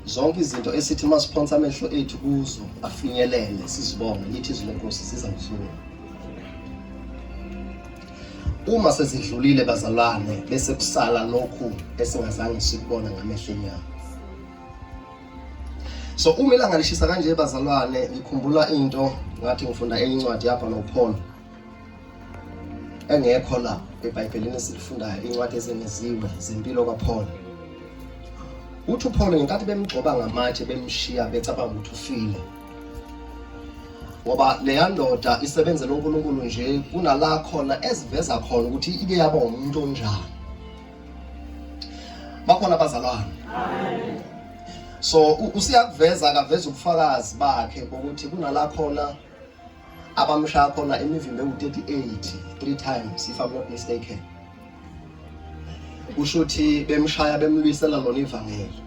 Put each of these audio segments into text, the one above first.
zonke izinto esithi masiphonsa amehlo ethu kuzo afinyelele sizibonge lithi izwi lenkosi siza kusuka uma sezidlulile bazalwane bese kusala lokhu esingazange sikubona ngamehlo enyama so uma ilanga lishisa kanje bazalwane ngikhumbula into ngathi ngifunda enye incwadi yabhalwa uPaul engekho la ebhayibhelini esilifundayo incwadi ezengeziwe zempilo kaPaul uthi uPaul ngenkathi bemgcoba ngamatshe bemshiya becabanga ukuthi ufile ngoba leya ndoda isebenzela uNkulunkulu nje kunala khona eziveza khona ukuthi ike yaba umuntu onjani bakhona abazalwane so usiyakuveza akaveza ubufakazi bakhe bokuthi kunala khona abamshaya khona imivimbo ewu-38 three times if i'm not mistaken kusho ukuthi bemshaya bemlwisela lona ivangeli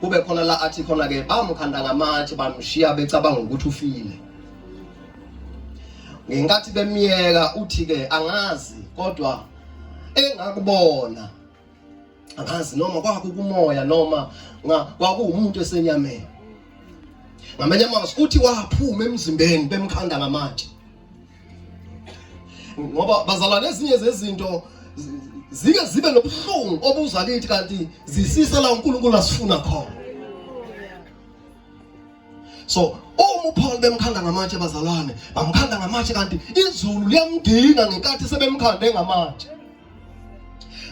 kube khona la athi khona-ke bamkhanda ngamathi bamshiya becabanga ukuthi ufile ngenkathi bemyeka uthi-ke angazi kodwa engakubona ngazi noma kwakukumoya noma kwakuwumuntu esenyameni ngamanye amazwi uthi waphuma emzimbeni bemkhanda ngamatshe ngoba bazalwane ezinye zezinto zike zibe nobuhlungu obuza kithi kanti zisisa la uNkulunkulu asifuna khona so uma uPaul bemkhanda ngamatshe bazalwane bamkhanda ngamatshe kanti izulu liyamdinga ngenkathi sebemkhande ngamatshe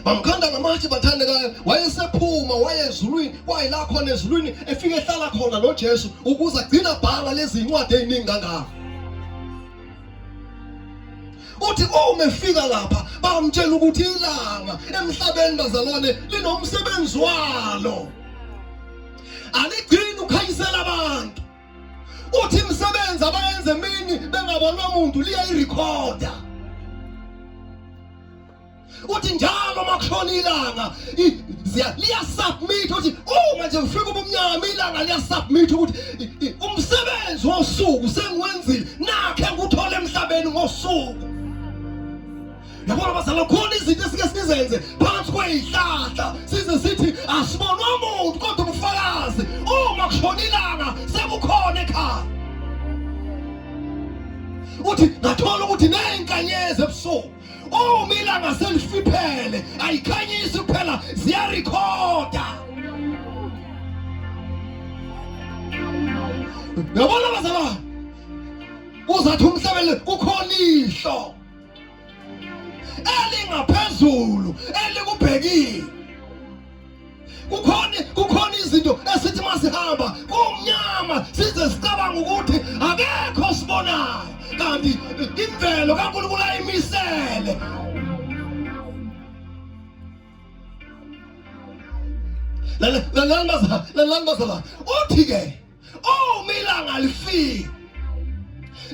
bamkhanda ngamatshe bathandekayo wayesephuma waye ezulwini wayela khona ezulwini efike ehlala khona nojesu ukuze agcina bhala lezi ncwadi ey'ningi kangaka uthi uma efika lapha bamtshela ukuthi ilanga emhlabeni bazalwane linomsebenzi walo aligcini ukhanyisela abantu uthi imisebenzi abayenze mini bengabonwa muntu liyayirekhoda uthi njalo uma kushona ilanga liyasubmit ukuthi uma nje kufika ubumnyama ilanga liyasubmit ukuthi umsebenzi wosuku sengiwenzile nakhe ngikuthole emhlabeni ngosuku yabona bazalwane khona izinto esike sizenze phakathi kweyihlahla size sithi asibonwa muntu kodwa ubufakazi uma kushona ilanga sekukhona ekhaya uthi ngathola ukuthi neyinkanyezi ebusuku uma ilanga selifiphele ayikhanyisi kuphela ziyarikhoda yabona bazalwane uzathi umhlabele kukhona ihlo elingaphezulu elikubhekile kukhona kukhona izinto esithi masihamba kumnyama size sicabanga ukuthi akekho sibonayo kanti imvelo kaNkulunkulu ayimisele lalani bazalwane uthi-ke Oh milanga lifika.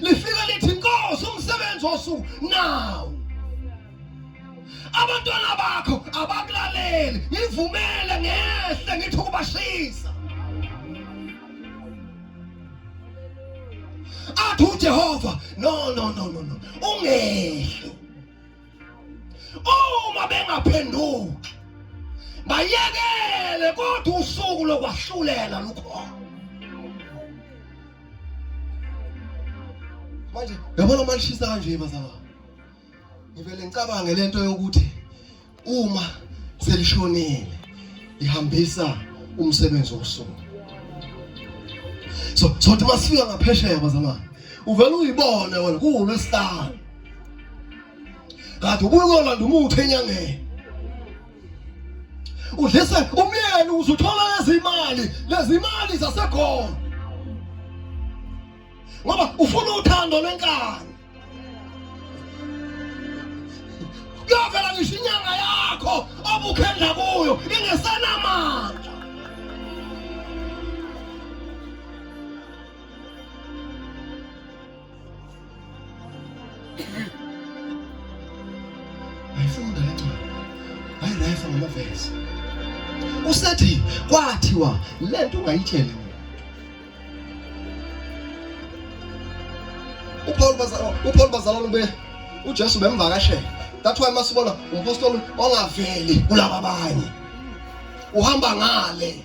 Lifika lithi Nkosi umsebenzi wosuku now. Abantwana bakho abakulaleli. Ngivumele ngehle ngithi ukubashisa. Athi uJehova no no no no no. Ungehlo. uma bengaphenduki bayekele kodwa usuku lokwahlulela lukhona manje yabona uma lishisa kanje bazalwa ngivele ngicabange lento yokuthi uma selishonile lihambisa umsebenzi wosuku so sothi masifika ngaphesheya bazalwane uvele uyibone wena kuwulwesihlanu kanti ubuye uyolanda umuthi enyangeni udlise umyeni uzuthola lezimali lezimali zasekhona ngoba ufuna uthando lwenkani kuyovela ngisho inyanga yakho obukhendla kuyo ingesenamandla Ayifunda le ncwadi. Hayi nayifa ngamavesi. Usethi kwathiwa le nto ungayitsheli muntu. UPaul bazalwa uPaul bazalwa ube uJesu bemvakashela. That's why masibona umpostoli ongaveli kulaba abanye. Uhamba ngale.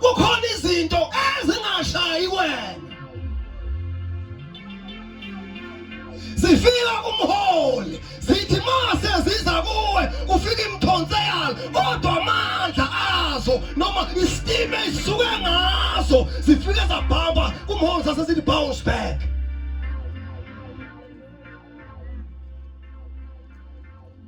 kukhona izinto ezingashayi wena zifika kumholi zithi mase ziza kuwe kufika imthonse yalo kodwa amandla azo noma isitime isuke ngazo zifike zabhamba kumholi sase sithi bounce back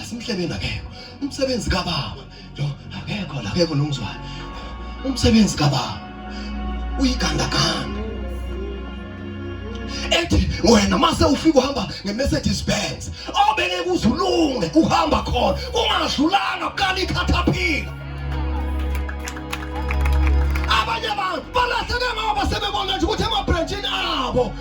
asimhlebeni akekho umsebenzi kababa lo akekho la akekho nomzwana umsebenzi kababa uyigandaganda ethi wena mase ufika uhamba nge-mercedes benz obeke kuzulunge uhamba khona ungadlulanga kukala ikhathaphila abanye abantu balahleke ngoba sebebona nje ukuthi emabhrentshini abo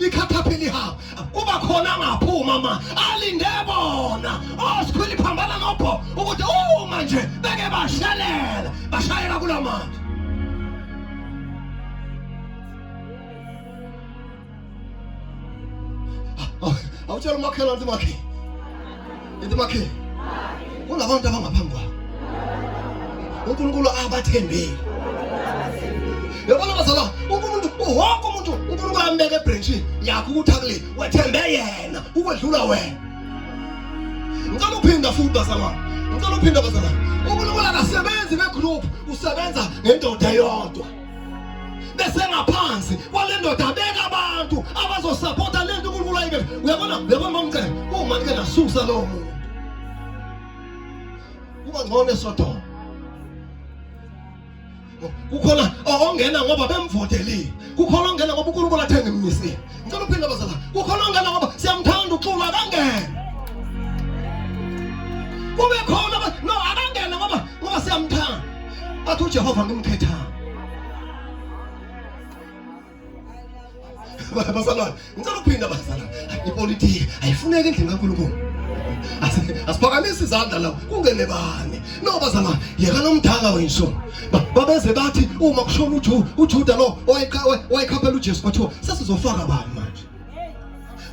ikhathaphi lihamba kuba khona angaphuma ma alinde bona osikhwili oh, phambana nobho ukuthi uma nje beke bashelela bashayela kula manje awutshela umakhelwane ukuthi makhe Into bakhe. Kulabantu abangaphambi kwakho. uNkulunkulu abathembile yabona bazalwa wonke umuntu wonke umuntu uNkulunkulu ambeke ebranchini yakho ukuthi akule wethembe yena ukwedlula wena ngicela uphinda futhi bazalwa ngicela uphinda bazalwa uNkulunkulu akasebenzi ngegroup usebenza ngendoda eyodwa besengaphansi kwale ndoda abeka abantu abazosapota le nto unkulunkulu ayike uyabona uyabona mamcela uma ndike nasusa lowo muntu kuba ngcono esodoma kukhona ongena ngoba bemvotelile kukhona ongena ngoba unkulunkulu athenga imimisile Ngicela uphinde bazala. Kukhona ongena ngoba siyamthanda uXulu akangene. Kube khona no akangene ngoba ngoba siyamthanda. Athi uJehova ngimkhetha. Bazalwane, ngicela ukuphinda bazalwane. Ipolitiki ayifuneki endlini kaNkulunkulu. Asiphakamise izandla la kungene bani. No bazalwane, yeka nomdala wenso. babeze bathi uma kushona uJuda uJuda lo owayekhaphela uJesu kwathiwa sesizofaka bani manje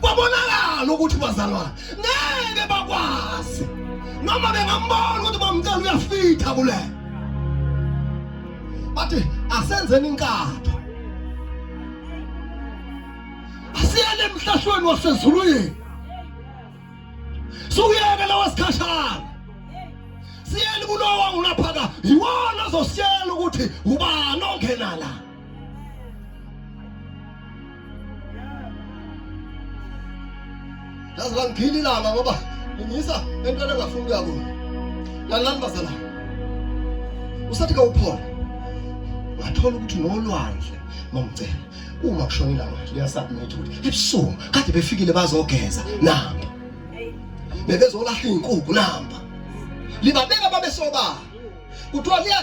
kwabonakala ukuthi bazalwane ngeke bakwazi noma bengambona ukuthi bamcela uyafitha kule bathi asenzeni inkatha asiyele emhlahlweni wasezulwini sukuyeke lawa sikhashana siyeni kulowa ulaphaka yiwona ozosiyela ukuthi ubani ongena la yazi bangigila ilanga ngoba ngiyisa entweni engafuni ukuya kuyo lalani bazalana usathi kawuphona ngathola ukuthi nolwandle mamcela uma kushona ilanga liyasubmit ukuthi ebusuku kade befikile bazogeza namba bebezolahla iy'nkukhu namba libabeka babesobala kuthiwa liya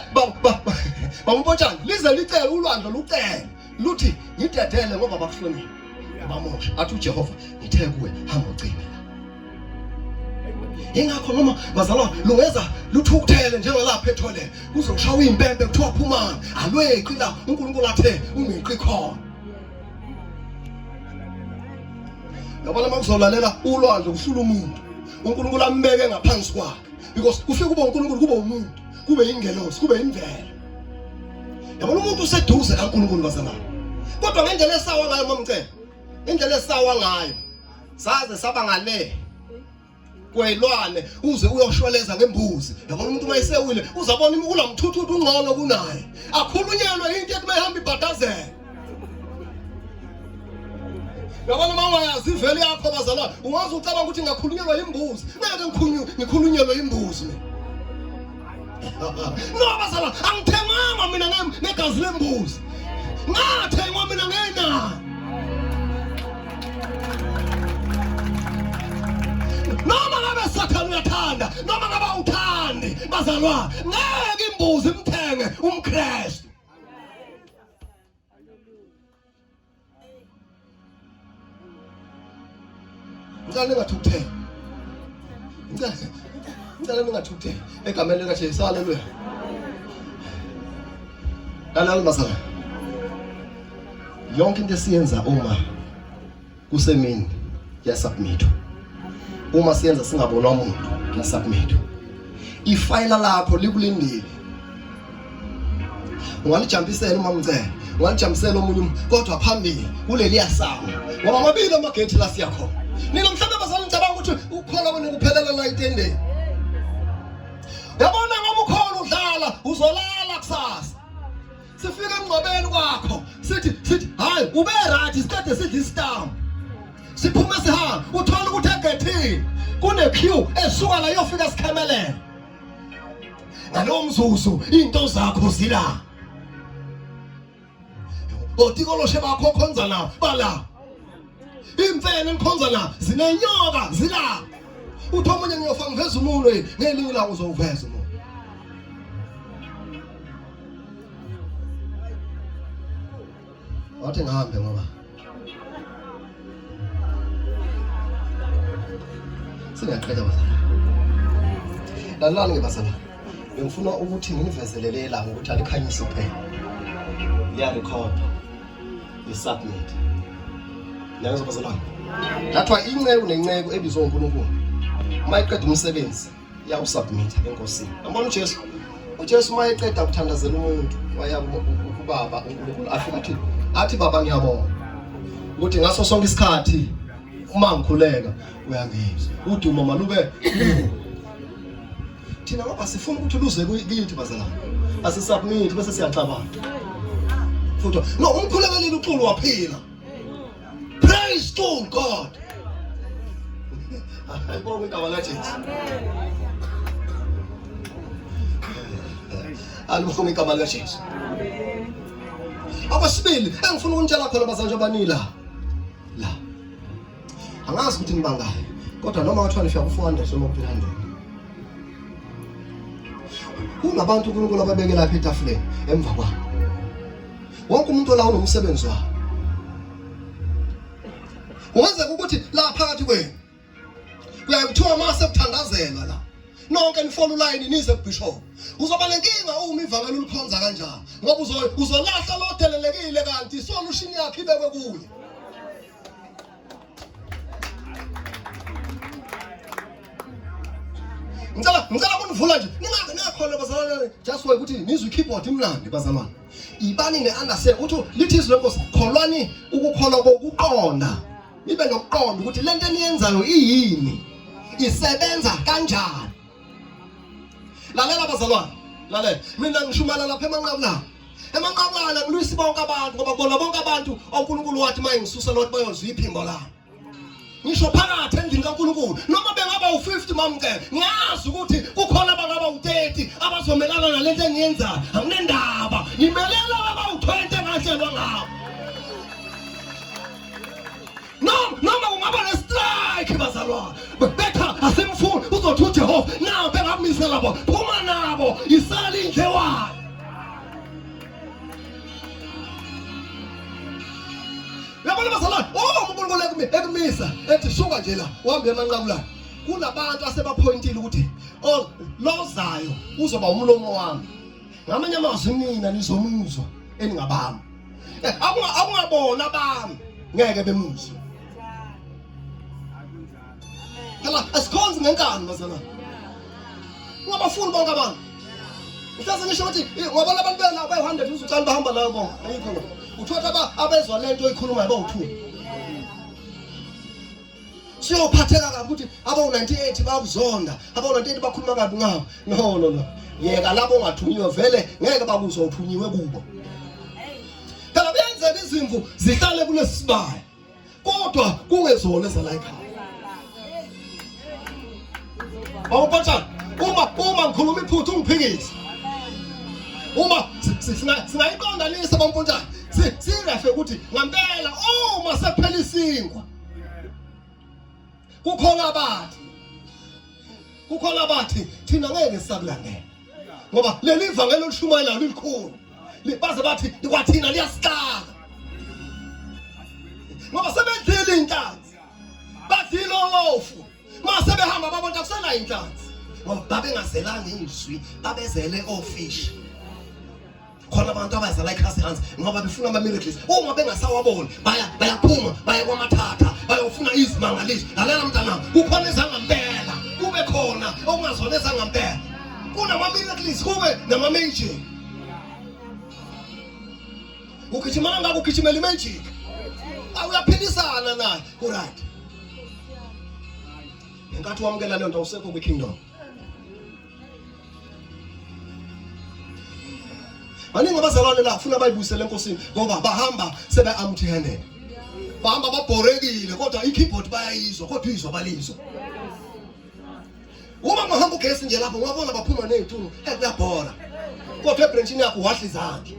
bamupotshana lize licele ulwandle lucele luthi ngidedele ngoba bakuhlonile ubamosha athi ujehova ngithe kuwe hamba ucime yingakho noma bazalwa lungeza luthukuthele njengalapha ethole kuze kushawa impempe kuthiwa phumani alweqi la unkulunkulu athe ungeqi khona yabona uma kuzolalela ulwandle kuhlula umuntu unkulunkulu ambeke ngaphansi kwakhe because kufike kube unkulunkulu kube umuntu kube yingelosi kube yimvelo yabona umuntu useduze kankulunkulu bazalwa kodwa ngendlela esawa ngayo mamcela indlela esawa ngayo saze saba ngale kwelwane uze uyoshweleza ngembuzi yabona umuntu uma esewile uzabona imikula mthuthuthi ungcono kunaye akhulunyelwe into ethi mayihamba ibhadazela yabona uma ungayazi ivele yakho bazalwane ungaze ucabanga ukuthi ngakhulunyelwa yimbuzi ngeke ngikhulunyelwe yimbuzi mina no bazala angithenganga mina negazi lembuzi ngathengwa mina ngenani noma ngabe sathane uyathanda noma ngabe awuthandi bazalwa ngeke imbuzi imthenge umkristu ngicela ningathukutheli ngicela ngicela ningathukutheli egameni likaJesu haleluya lalela masala yonke into esiyenza uma kusemini yasubmit uma siyenza singabonwa umuntu yasubmit ifayila lakho likulindile ungalijambisela uma mcela ungalijambisela omunye kodwa phambili kuleliya sango ngoba amabili amagethi la siya khona nina mhlawumbe abazali ngicabanga ukuthi ukukholwa kwenu kuphelela la itendeni yabona ngoba ukhona udlala uzolala kusasa sifika emngcwabeni kwakho sithi sithi hayi ube right isikade sidla isitambu siphume sihamba uthola ukuthi egethini kune queue esuka la yofika sikhemelele ngalowo mzuzu into zakho zila otikoloshe bakho khonza la bala imfene nikhonza la zinenyoka zila uthi omunye ngiyofa ngiveza umuntu ngelinye ilanga uzowuveza umuntu wathi ngihambe ngoba singaqeda bazalwane lalani-ke bazalwane bengifuna ukuthi nginivezelele ilanga ukuthi alikhanyise kuphela liyalikhoda lisubmit niyangizwa bazalwane thathwa inceku nenceku ebizwe unkulunkulu uma iqeda umsebenzi iyawusubmitha enkosini yabona ujesu ujesu uma eqeda kuthandazela umuntu waya kubaba unkulunkulu afike ukuthi athi baba ngiyabonga ukuthi ngaso sonke isikhathi uma ngikhuleka uyangizwa udumo malube thina ngoba sifuna ukuthi luze kiyithi bazalwane asisubmit bese siyacabanga futhi no umkhulekeli uxulu waphila Praise to God. Ayibonge igama likaJesu. Alibonge igama likaJesu. Abasibili engifuna ukunitshela khona bazanje abanila. La. Angazi ukuthi nibangayo. Kodwa noma wathiwa nifika ku-400 noma ku-300. Kunabantu uNkulunkulu ababeke lapha etafuleni emva kwabo. wonke umuntu olawo nomsebenzi wawo ungenzeka ukuthi la phakathi kwenu kuyaye kuthiwa uma sekuthandazelwa la nonke nifona ulayini nize kubishop uzoba nenkinga uma ivangeli ulikhonza kanjalo ngoba uzolahla lodelelekile kanti isolution yakhe ibekwe kuye ngicela ngicela kunivula nje ningaze ningakhona bazalwane just why ukuthi nizwe keyboard imnandi bazalwane ibani ne understand ukuthi lithi izwi lenkosi kholwani ukukholwa kokuqonda nibe nokuqonda ukuthi lento eniyenzayo iyini isebenza kanjani lalela bazalwane lalela mina ngishumayela lapha emanqabu lapha emanqabala kulwisi bonke abantu ngoba kubona bonke abantu oNkulunkulu wathi mayengisusa lothi bayozwa iphimbo lami ngisho phakathi endlini kaNkulunkulu noma bengaba u50 mamke ngiyazi ukuthi kukhona abangaba u30 abazomelana nalento engiyenzayo anginendaba ngimelela baba u20 engahlelwa ngabo noma noma kungaba nestrike bazalwane betha asimfuni uzothi uJehova nawo bengamise labo phuma nabo isali indle wayo yabona bazalwane oh uNkulunkulu ekumi ekumisa ethi suka nje la uhambe emanqamulana kunabantu asebaphoyintile ukuthi oh lozayo uzoba umlomo wami ngamanye amazwi nina nizomuzwa eningabami eh, akungabona abami ngeke bemuzwe phela asikhonzi ngenkani bazalwane ungabafuni bonke abantu mhlawumbe ngisho ukuthi ngobona abantu bena abayi-hundred uzucani bahamba layo bonke ayikho uthola abezwa le nto oyikhulumayo bawuthula siyophatheka kabi ukuthi abawu-98 bakuzonda abawu-98 bakhuluma kabi ngawo no no no yeka labo ongathunyiwe vele ngeke bakuzwa uthunyiwe kubo phela kuyenzeka izimvu zihlale kulesi sibaya kodwa kungezona ezalayikhaya awupatshana uma uma ngikhuluma iphutha ungiphikise uma singayiqondanisa bampontshana sirefe ukuthi ngampela uma sephela isinkwa kukhona abathi kukhona abathi thina ngeke sakulandela ngoba leli vangeli olishumayelayo lilikhulu baze bathi kwathina liyasixaka ngoba sebedlile inhlanzi badlile olofu mase behamba babona kusenayo inhlanzi ngoba babengazelanga izwi babezele ofishi khona abantu abazala ikhasi hansi ngoba befuna ama-miracles uma bengasawaboni baya bayaphuma baya kwamathatha bayofuna izimangaliso lalela mntanam kukhona ezangampela kube khona okungazona ezangampela kunama-miracles kube nama-magic ugijimana ngako ugijimela i-magic awuyaphikisana naye kuryt ngenkathi wamukela leyo nto awusekho kwi-kingdom baningi abazalwane la funa bayibuyisele enkosini ngoba bahamba sebe-amthenene bahamba babhorekile kodwa i-keyboard bayayizwa kodwa uyizwa balizwa uma mahamba ugesi nje lapho ungabona baphuma ney'tulu ekuyabhora kodwa ebhrentshini yakho wahla izandla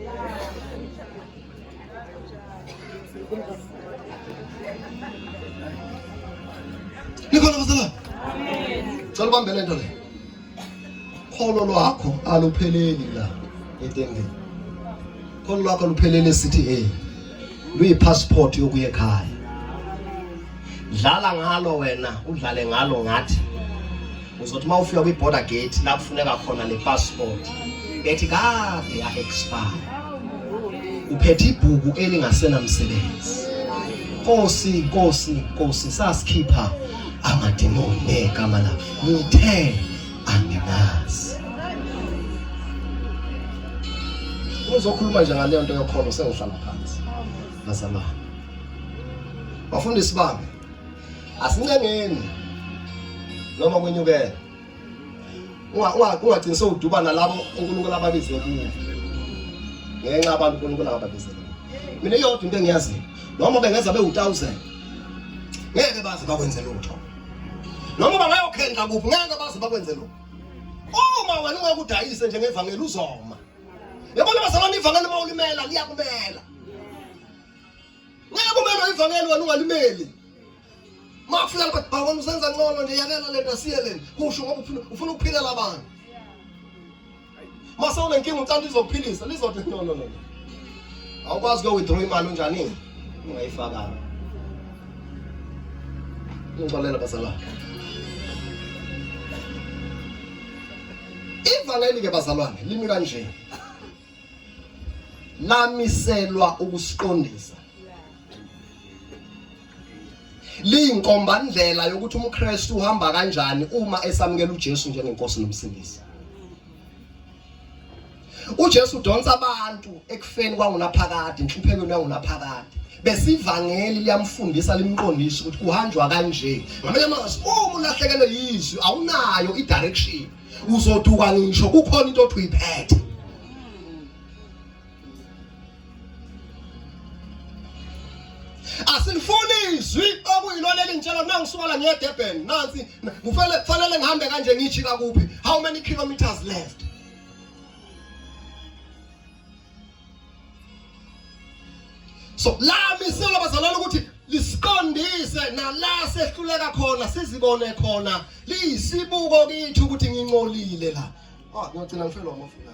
Nikhona bazalwane. Cela ubambele into le. Kholo lwakho alupheleli la etembeni. Kholo lwakho luphelele sithi hey. Luyi passport yokuya ekhaya. Dlala ngalo wena, udlale ngalo ngathi. uzothi uma ufika kwi-border gate la kufuneka khona le passport ethi kade ya-expire uphethe ibhuku elingasenamsebenzi nkosi nkosi nkosi sasikhipha amademoni negama la ngithe anginazi uzokhuluma nje ngaleyo nto yokholo sengihlala phansi bazalwane bafundisi bami asincengeni noma kwenyukela ungagcini sewuduba nalabo unkulunkulu ababize kuwo ngenxa abantu unkulunkulu ababize kuwo mina iyodwa into engiyaziyo noma bengeza bewu-thousand ngeke baze bakwenze lutho noma bangayokhenqa kuphi ngeke baze bakwenze lutho uma wena ungeke udayise njengevangeli uzoma yabona bazalwane ivangeli uma ulimela liyakumela Ngeke kumele ivangeli wena ungalimeli. Mafika lapha bawona usenza ngcono nje yakela lento asiye lento. Kusho ngoba ufuna ufuna ukuphila labantu. Mase unenkinga uthanda izokuphilisa lizothi no no no. Awukwazi ke withdraw imali unjani? Ungayifakanga. Ngixolela bazala. Ivangeli ke bazalwane limi kanje. lamiselwa ukusiqondisa liyinkombandlela yokuthi umKristu uhamba kanjani uma esamukela uJesu njengenkosi nomsindisi uJesu udonsa abantu ekufeni kwangunaphakade inhluphekweni yangunaphakade besivangeli liyamfundisa limqondisa ukuthi kuhanjwa kanje ngamanye amazwi uma ulahlekelwe yizwi awunayo i-direction uzoduka ngisho kukhona into othi uyiphethe asilifuni izwi okuyilona elingitshela mina ngisuka la ngiye Durban nansi kufanele kufanele ngihambe kanje ngijika kuphi how many kilometers left so la miselo abazalwane ukuthi lisiqondise nala sehluleka khona sizibone khona liyisibuko kithi ukuthi ngincolile la ah ngiyogcina ngifelwa amafuna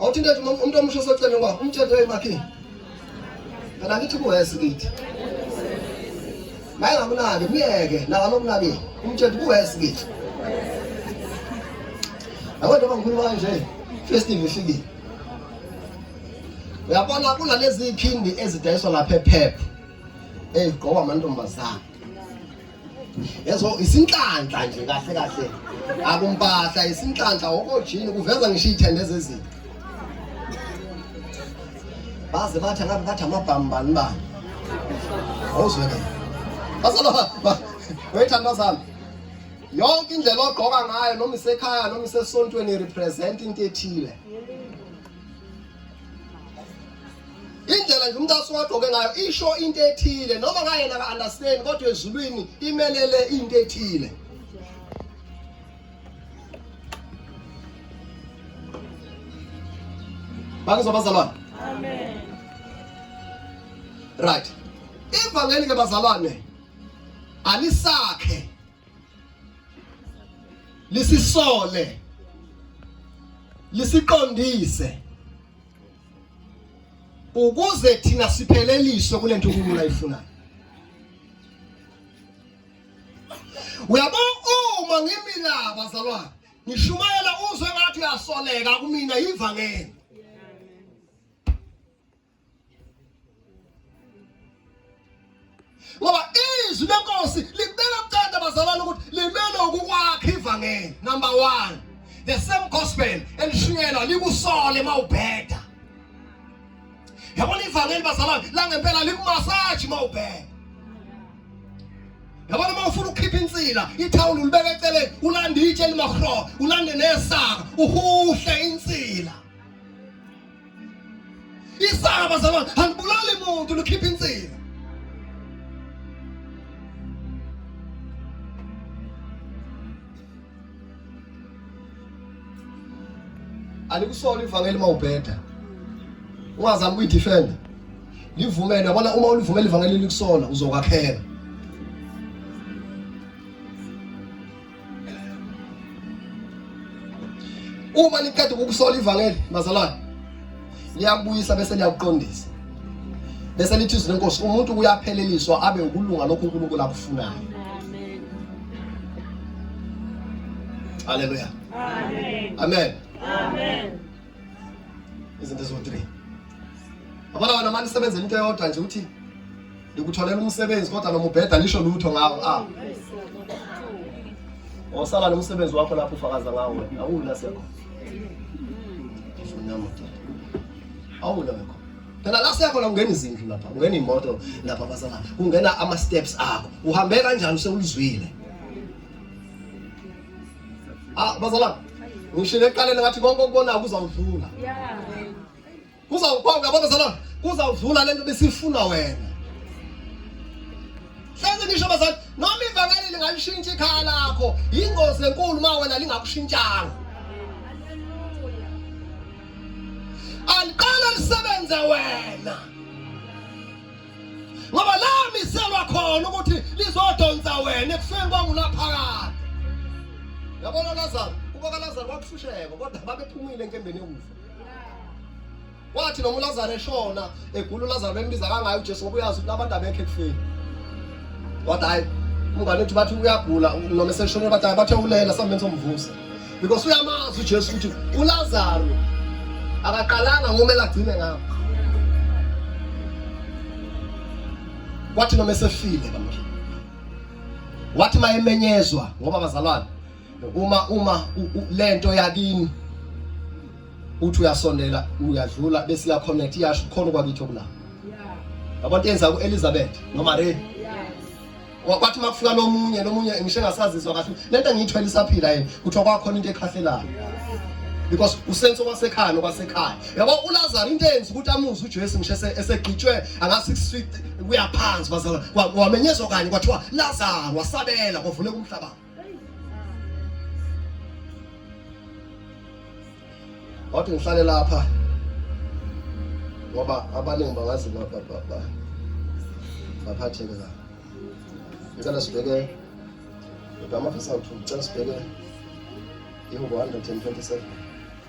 awuthinta umuntu omusha osecele ngoba umthetho emakini phela ngithi kuwesi kithi naye ngakunaki myeke nawa nokunakile umthetho kuwesi kithi yabo njengoba ngikhuluma kanje festive ifikile uyabona kunalezi phindi ezidayiswa lapha ephepha eyigqokwa amantombazane Yeso isinhlanhla nje kahle kahle. Akumpahla isinhlanhla okojini kuveza ngisho ithende zezini. Baze bathi ngabe bathi amabhambani ba. Awuzwe ke. Basala ba. Wayithanda zami. Yonke indlela ogqoka ngayo noma isekhaya noma isesontweni represent into ethile. indlela nje umuntu asiwagqoke ngayo isho into ethile noma ngayena ka-understand kodwa ezulwini imelele into ethile bakuzwa bazalwane amen right ivangeli ke bazalwane alisakhe lisisole lisiqondise ukuze thina sipheleliswe kule nto uNkulunkulu ayifunayo uyabo uma ngimina bazalwane ngishumayela uzwe ngathi uyasoleka kumina yivangeli ngoba izwi lenkosi libeka kucanda bazalwane ukuthi limele ukukwakha ivangeli number one the same gospel elishunyelwa likusole uma ubheda yabona ivangeli bazalwane langempela likumasaji uma ubheda yabona uma ufuna ukukhipha insila ithawula ulibeka eceleni ulande itshe elimahro ulande nesaka uhuhle insila Isaka bazalwane, angibulali muntu lukhipha insila. Alikusona ivangeli mawubheda. Ungazama ukuyidefend. Livumele yabona uma ulivumela ivangeli likusona uzokwakhela. Uma niqeda ukukusola ivangeli bazalwane, liyakubuyisa bese liyakuqondisa. Bese lithi izwi lenkosi umuntu uyapheleliswa abe ukulunga lokho uNkulunkulu akufunayo. Amen. Haleluya. Amen. Amen. Amen. izinto eziwu-three abana wena mani isebenzela into eyodwa nje ukuthi ndikutholela umsebenzi kodwa noma ubheda nisho lutho ngawo a ah. wasala oh, nomsebenzi wakho lapho ufakaza ngawo wena awula sekho awula wekho phela la siyakhona kungena izindlu lapha kungena iy'moto lapha abasala kungena ama-steps akho uhambe kanjani sewulizwile Ah, bazalwane. Ngisho eqaleni ngathi konke okubonayo kuzawudlula. Yeah. Kuzawuphawuka yabo bazalwane. Kuzawudlula lento besifuna wena. Hleze ngisho bazalwane, noma ivangeli lingalishintsha ikhaya lakho, ingozi enkulu uma wena lingakushintshanga. Aliqala lisebenze wena. ngoba lamiselwa khona ukuthi lizodonsa wena ekufeni kwangulaphakade yabona lazaro kuba kalazaro wakuhlusheka kodwa babephumile enkembeni yokufa wathi noma ulazaro eshona egula ulazaro bembiza kangayo ujesu ngoba uyazi ukuthi abantu abekho ekufeni kodwa hayi umngane wethu bathi uyagula noma eseshonile bathi hayi bathe ulela sambenza omvusa because uyamazi uJesu ukuthi uLazaro akaqalanga ngomele agcine ngabo wathi noma esefile bamkhulu wathi mayemenyezwa ngoba bazalwane uma uma lento yakini uthi uyasondela uyadlula bese iya connect iyasho khona kwakithi okulapho yabona yenza ku Elizabeth no Maria wathi uma kufika lomunye lomunye ngisho engasazizwa kahle lento engiyithwele isaphila yini kuthiwa kwakhona into ekhahlelayo because usense okwasekhaya nokwasekhaya yabo ulazaro into eyenza ukuthi amuze ujesu ngisho esegqitshwe anga-six feet kuyaphansi wamenyezwa kanye kwathiwa lazaro wasabela kwavuleka umhlabana wathi ngihlale lapha ngoba abaningi bangazi baphatheke la ngicela sibheke kodwa amafisa awuthu ngicela sibheke ihubo 127